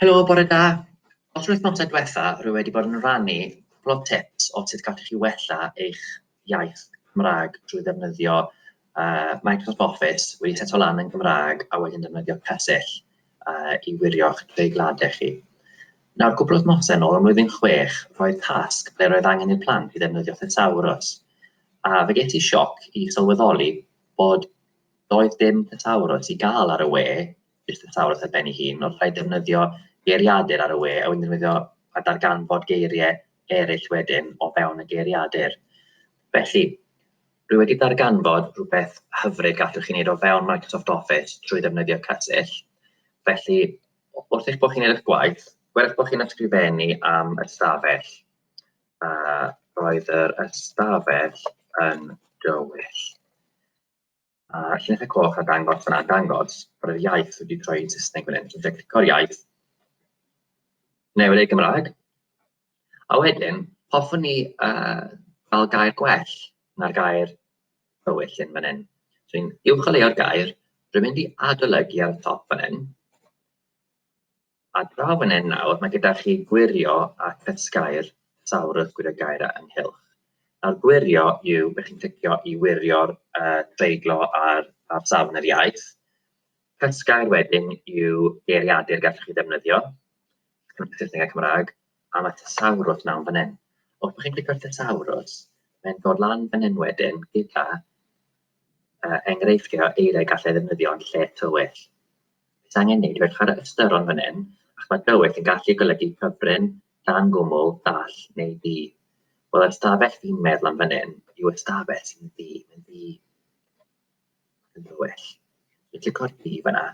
Helo, bore da. Os wythnosau diwetha, rwy wedi bod yn rhannu cwpl o tips o sut gallwch chi wella eich iaith Cymraeg drwy ddefnyddio uh, Microsoft Office wedi set o lan yn Gymraeg a wedyn defnyddio cysill uh, i wirio'ch treigladau chi. Nawr, cwpl o wythnosau yn ôl, ym mlwyddyn chwech, roedd tasg ble roedd angen i'r plant i ddefnyddio thesaurus. A fe ges i sioc i sylweddoli bod doedd dim thesaurus i gael ar y we jyst yn sawr wrth ben ei hun, wrth rhaid defnyddio geiriadur ar y we a wedyn defnyddio a darganfod geiriau eraill wedyn o fewn y geiriadur. Felly, rwy wedi darganfod rhywbeth hyfryd gallwch chi wneud o fewn Microsoft Office trwy ddefnyddio Cysill. Felly, wrth eich bod chi'n edrych gwaith, gwerth bod chi'n ysgrifennu am ystafell. A roedd yr ystafell yn dywyll. A llinell y coch a dangos yna dangos bod yr iaith wedi troi i'n Saesneg fan hyn. So fe clico'r iaith, newid ei Gymraeg, a wedyn hoffwn ni uh, fel gair gwell na'r gair dywyll hyn fan hyn. So ni'n uwcholeuo'r gair, rwy'n mynd i adolygu ar y top fan hyn, A draw fan hyn nawr, mae gyda chi gwirio a chysgau'r llawr wrth gwirio gair a ynghylch. Nawr gwirio yw, ydych chi'n clicio i wirio'r uh, treiglo ar, ar safon yr iaith. Cysgau'r wedyn yw geiriadur gallwch chi ddefnyddio, Saesneg a Cymraeg, a mae tesawrwth nawn fan hyn. Wrth bod chi'n clicio ar tesawrwth, mae'n dod lan fan hyn wedyn gyda uh, enghreifftiau o eiriau gallai ddefnyddio yn lle tywyll. Beth angen neud yw chwarae ystyron fan hyn, ac mae dywyll yn gallu golygu cyfrin, dan gwmwl, dall neu ddi. Wel, yr ystafell fi'n meddwl am fan hyn yw ystafell sy'n ddi, yn ddi, yn dywyll. Dwi'n clico'r ddi fanna.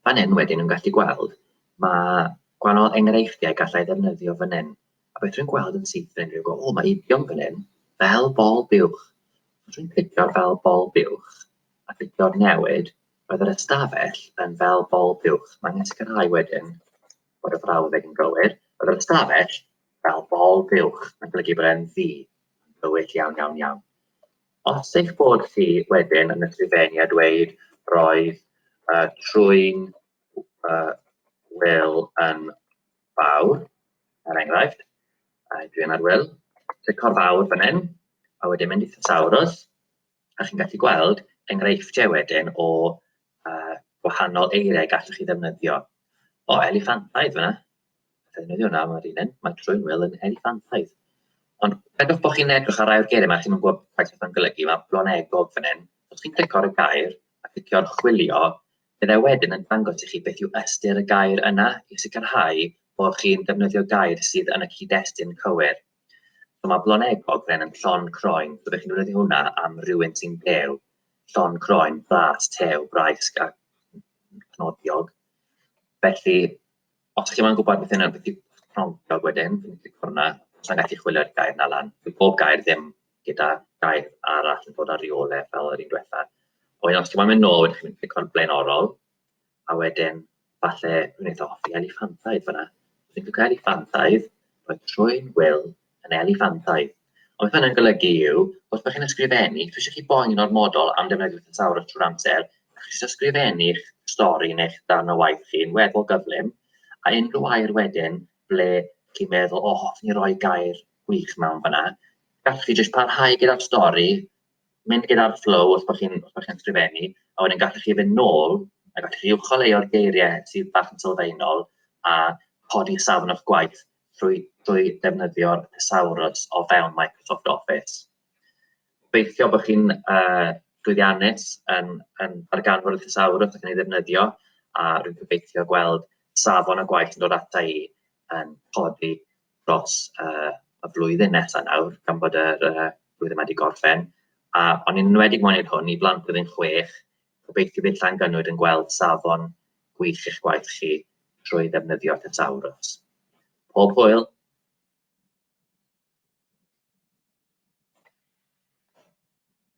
Fan hyn wedyn yn gallu gweld, mae gwahanol enghreifftiau gallai ddefnyddio fan hyn. A fedrwn gweld yn syth yn unrhyw gôl. Mae idiom fan hyn, fel bol buwch. Os dwi'n clicio'r fel bol buwch a clicio'r newid, roedd yr ystafell yn fel bol buwch. Mae angen sicrhau wedyn bod y frawddeg yn gywir. Roedd yr ystafell fel bol buwch. Mae'n golygu bod e'n ddi. Gywir iawn, iawn, iawn. Os eich bod chi wedyn yn y trefenu a dweud roedd uh, trwy'n uh, Will yn fawr, er enghraifft, a dwi yn arwyl, clico'r fawr fan hyn, a wedyn mynd i thesawrus, a chi'n gallu gweld enghreifftiau wedyn o uh, gwahanol eiriau gallwch chi ddefnyddio. O, eliffantaidd fyna. Ddefnyddio hwnna, mae'r un yn, mae trwy'n wyl yn eliffantaidd. Ond edrych bod chi'n edrych ar rai o'r geiriau yma, chi'n gwybod beth yw'n golygu, mae blonegog fan hyn. Os chi'n clicio ar y gair a clicio'r chwilio, Byddai wedyn yn dangos i chi beth yw ystyr y gair yna i sicrhau bod chi'n defnyddio gair sydd yn y cyd-destun cywir. So mae bloneg ogren yn llon croen, so be chi'n defnyddio hwnna am rhywun sy'n dew. Llon croen, blas, tew, braisg a cnodiog. Felly, os chi'n ma'n gwybod beth yna, beth yw cnodiog wedyn, fi'n clic hwnna, os na'n gallu chwilio'r gair na lan. Bydd bob gair ddim gyda daith arall yn bod ar reoledd fel yr un diwetha. A wedyn os ti'n mynd nôl, wedyn chi'n mynd clico'r blaenorol, a wedyn falle yn eitha hoffi eliffantaidd fyna. Os ti'n clicio eliffantaidd, roedd trwy'n wyl yn eliffantaidd. Ond beth hynny'n golygu yw, os ydych chi'n ysgrifennu, dwi eisiau chi boen yn ormodol am defnyddio thesaurus trwy'r amser, a chi eisiau ysgrifennu eich stori neu'ch darn o waith chi'n weddol gyflym, a unrhyw air wedyn ble chi'n meddwl, o, oh, hoffwn ni roi gair gwych mewn fyna. Gallwch chi jyst parhau gyda'r stori, mynd gyda'r flow os bod chi'n chi ysgrifennu, a wedyn gallwch chi fynd nôl, a gallwch chi uwcholeuo'r geiriau sydd bach yn sylfaenol, a codi safon o'ch gwaith trwy, trwy defnyddio'r thesaurus o fewn Microsoft Office. Beithio bod chi'n uh, llwyddiannus yn, yn darganfod y thesaurus ac yn ei ddefnyddio, a rwy'n gobeithio gweld safon y gwaith yn dod ata i yn codi dros uh, y flwyddyn nesaf nawr, gan bod yr uh, flwyddyn wedi gorffen. A o'n i'n enwedig moyn hwn i blant blwyddyn chwech, gobeithio bydd llan gynnwyd yn gweld safon gwych eich gwaith chi trwy ddefnyddio Thesaurus. Pob hwyl!